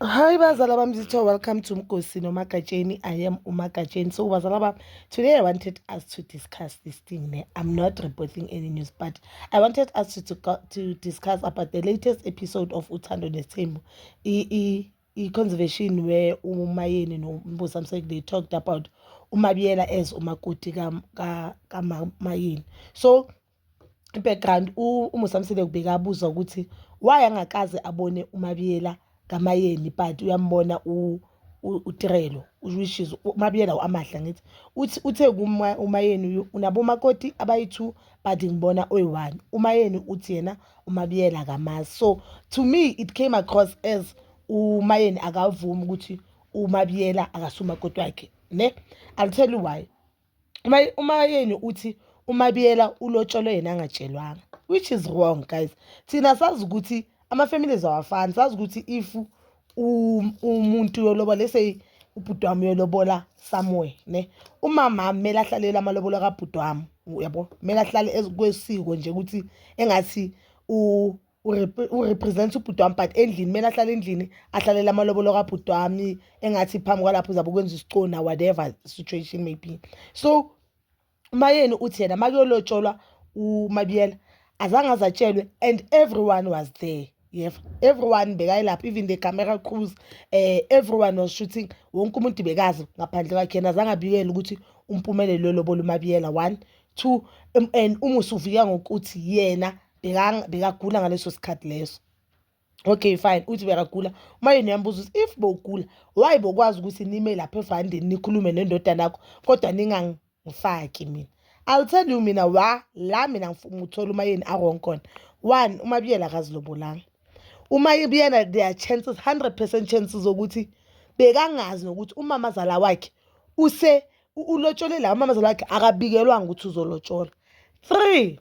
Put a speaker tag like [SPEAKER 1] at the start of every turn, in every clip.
[SPEAKER 1] Hi bazala bami zithiwa welcome to Mgosi noMagatsheni. I am uMagatsheni. So bazala bami, today I wanted us to discuss this thing. Ne? I'm not reporting any news but I wanted us to, to, to discuss about the latest episode of Uthando Nesimbo. E, e, e conservation where uMayeni no Mbusa Mseki they talked about uMabiyela as umakoti ka, ka, ka Mayeni. So i-background uMusamsile kubeka abuza ukuthi why angakaze abone uMabiyela kaMayeni but uyambona uTirelo which is uMabiyela u-Amahle angithi. Uthi uthe uMayeni unabo umakoti abayi-two but ngibona oyi-one. UMayeni uthi yena uMabiyela akamazi. So to me it came across as uMayeni akavumi ukuthi uMabiyela akasumakoti wakhe ne. I'll tell you why. uma uma yenu uthi umabiyela ulotsholwe yena angatshelwanga which is wrong guys thina sazi ukuthi ama-families awafani sazi ukuthi if umuntu yoloba lese ubhuti wami uyolobola somewhere ne umama kumele ahlalele amalobolo kabhuti wami uyabo kumele ahlale kwesiko nje ukuthi engathi urepresent ubhuti wami but endlini kumele ahlale endlini ahlalela amalobolo kabhuti wami engathi phambi kwalapho uzabe ukwenza isicona whatever situation maybe so umayeni uthi yena uma kuyolotsholwa umabiyela azange azatshelwe and everyone was there yeva everyone bekayilapho even the camera crews um everyone was shooting wonke umuntu bekazi ngaphandle kwakhe yena azange abikele ukuthi umpumelelo lolobola umabiyela one two um, and umusuviya ngokuthi yena bekagula ngaleso sikhathi leso okay fine uthi bekagula uma yena uyambuza ukuthi if bowugula why bokwazi ukuthi nime lapha evandeni nikhulume nendodana yakho kodwa ningangifaki mina i'll tell you mina wa la mina ngithola uma yeni awrong khona one uma biyela akazilobolanga uma biyena there are chances 100 percent chances zokuthi bekangazi nokuthi umamazala wakhe use ulotsholelaa umamazala wakhe akabikelwanga ukuthi uzolotshola three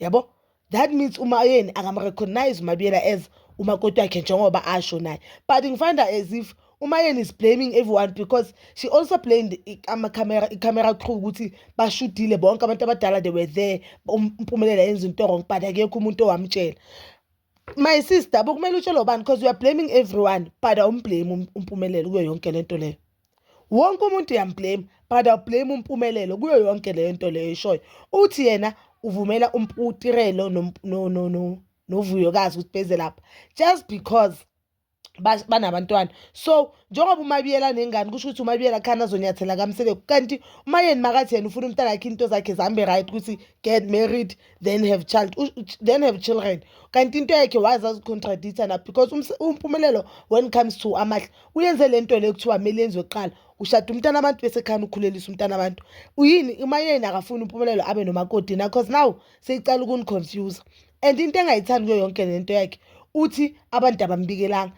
[SPEAKER 1] yabo that means umayeni akamrecognize umabiyela as umakoti wakhe njengoba asho naye but ngifind as if umayeni is blaming everyone because she also blamed amacamera icamera crew ukuthi bashudile bonke abantu abadala they were there umpumelela yenza into wrong but akekho umuntu owamtshela my sister bokumele utshelwe ubani because you are blaming everyone but awumblame um, umpumelelo kuyo yonke le nto leyo wonke umuntu uyamblame but awublame umpumelelo kuyo yonke leyo nto leyo eshoyo uthi yena uvumela um, utirelo novuyokazi ukuthi beze lapha just because banabantwana so njengoba umabiyela nengane kusho ukuthi umabiyela khana azonyathela kamseleku kanti umayeni makathi yena ufuna umntana akhe into zakhe zihambe right ukuthi get married then have child then have children kanti into yakhe waze azicontradict-a na because umpumelelo when comes to amahle uyenze le nto le kuthiwa kumele yenziwe kuqala ushada umntana abantu bese khani ukhulelisa umntana abantu uyini umayeni akafuni umpumelelo abe nomakoti na cause now seyiqala ukuniconfuse and into engayithandi kuyo yonke lento yakhe uthi abantu abambikelanga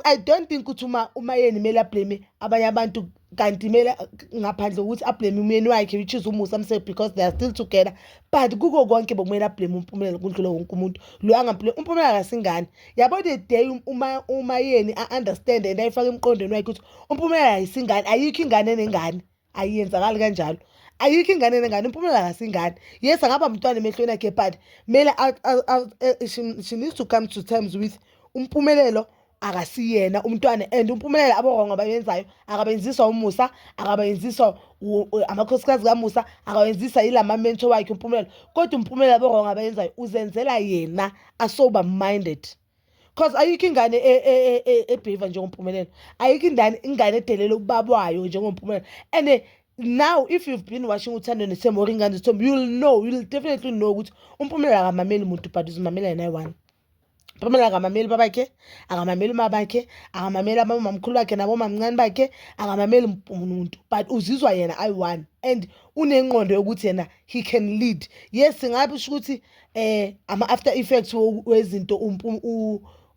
[SPEAKER 1] i don't think ukuthi uma uma yeni kumele ablame abanye abantu kanti kumele ngaphandle kokuthi ablame umyeni wakhe which is umusa msebe because they are still together but kuko konke bokumele ablame umpumelelo kundlula wonke umuntu lo angampilo umpumelelo akasingane yabo the day um, uma uma yeni a-understand and ayifake emqondweni wakhe ukuthi umpumelelo ayisingane ayikho ingane enengane ayiyenzakali kanjalo ayikho ingane nengane impumela kasingane yes angaba mntwana emehlweni akhe but mele e, she needs to come to terms with umpumelelo akasiyena umntwana and umpumelelo aborongo abayenzayo akabenziswa umusa akabenziswa amakhosikazi kamusa akawenzisa yilama mentor wakhe umpumelelo kodwa umpumelelo aborongo abayenzayo uzenzela yena asober minded cause ayikho ingane e, e, e, ebheva njengompumelelo ayikho indane ingane edelela ubaba wayo njengompumelelo and eh, now if you've been watching uthando nesemori ingane zithombe you'll know you'll definitely know ukuthi umpumelelo akamameli muntu but uzimamela yena ayi-one Pamela akamameli babakhe akamameli uma bakhe akamameli abamamkhulu bakhe nabomamncane bakhe akamameli umuntu but uzizwa yena ayi-one and unenqondo yokuthi yena he can lead yes ngabe usho ukuthi eh ama after effects wezinto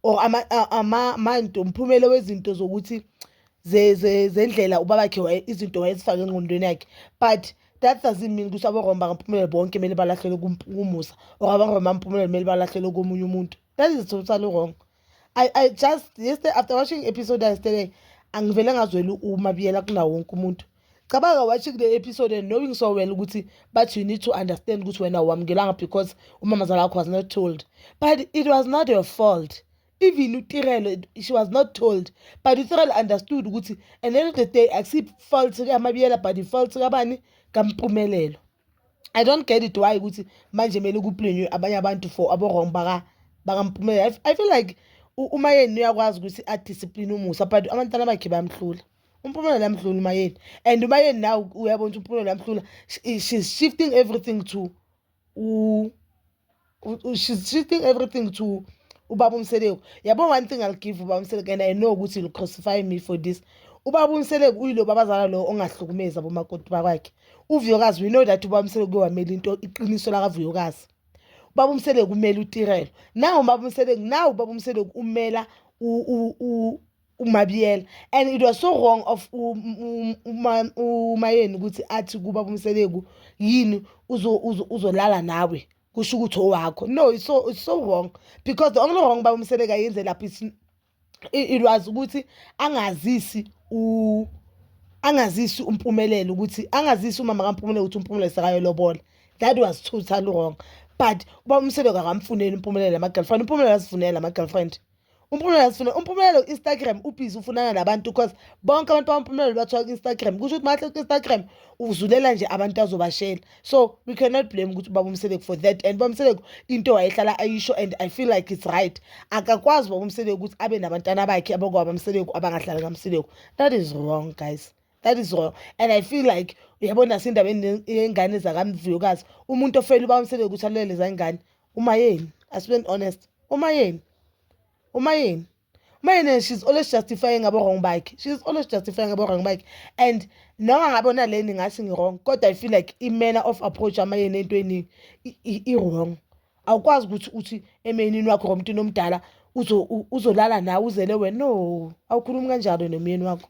[SPEAKER 1] or ama ama mind umphumela wezinto zokuthi zendlela ubabakhe izinto wayezifake engqondweni yakhe but that doesn't mean ukuthi aboromba kamphumela bonke kumele balahlelwe kumusa or aboromba kamphumela kumele balahlelwe komunye umuntu that is totally wrong I, I just yesterday after watching episode yesterday angivele ngazweli uma biyela kunawo wonke umuntu cabanga watching the episode and knowing so well ukuthi but you need to understand ukuthi wena wamukelanga because umamazala wakho was not told but it was not your fault even utirelo she was not told but utirelo understood ukuthi and end of the day akusi-fault kamabiyela but i-fault kabani kampumelelo I don't get it why ukuthi manje kumele kuplinywe abanye abantu for abo-wrong bakampumelelo I feel like umayeni uyakwazi ukuthi adiscipline umusa but abantwana bakhe bayamhlula umpumelelo yamhlula umayeni and umayeni naw uyabona ukuthi umpumelelo yamhlula she's shifting everything to she's she think everything to ubaba umseleku yabo one thing i'll give ubaba umseleku and i know ukuthi you'll crucify me for this ubaba umseleku uyilo babazala lo ongahlukumeza bomakoti bakwakhe uvuyokazi we know that ubaba umseleku kuyowamela into iqiniso lakavuyokazi ubaba umseleku umela utirelo nawu ubaba umseleku nawu ubaba umseleku umela uMabiyela and it was so wrong of umayeni ukuthi athi kuba umseleku yini uzolala nawe kusho ukuthi owakho no it's so, it's so wrong because the only wrong baba umseleka yenze lapho it was ukuthi angazisi u angazisi umpumelelo ukuthi angazisi umama kampumelelo ukuthi umpumelelo sekayolobola that was totally wrong but uba umseleko akamfuneli umpumelelo ama-girlfriend umpumelelo azifunele ama-girlfriend umphumela sifuna umphumela u-instagram ubhizi ufunana nabantu because bonke abantu bamphumela bathiwa ku-instagram kusho ukuthi mahle ku-instagram uzulela nje abantu azobashela so we cannot blame ukuthi ubaba umseleku for that and ubaba umseleku into wayehlala ayisho and i feel like it's right akakwazi ubaba umseleku ukuthi abe nabantwana bakhe abakwaba mseleku abangahlali kamseleku that is wrong guys that is wrong and i feel like uyabona sindaba yengane zakamvuyokazi umuntu ofela uba umsebe ukuthi alulele zangane uma yeni asibe honest uma yeni uma yeni uma yeni she's always justifying ngabo wrong bakhe she's always justifying ngabo wrong bakhe and noma ngabe ona leni ngathi ngi wrong kodwa i feel like i manner of approach ama yeni entweni i wrong awukwazi ukuthi uthi emenini wakho ngomuntu nomdala uzolala nawe uzele wena no awukhulumi kanjalo nomyeni wakho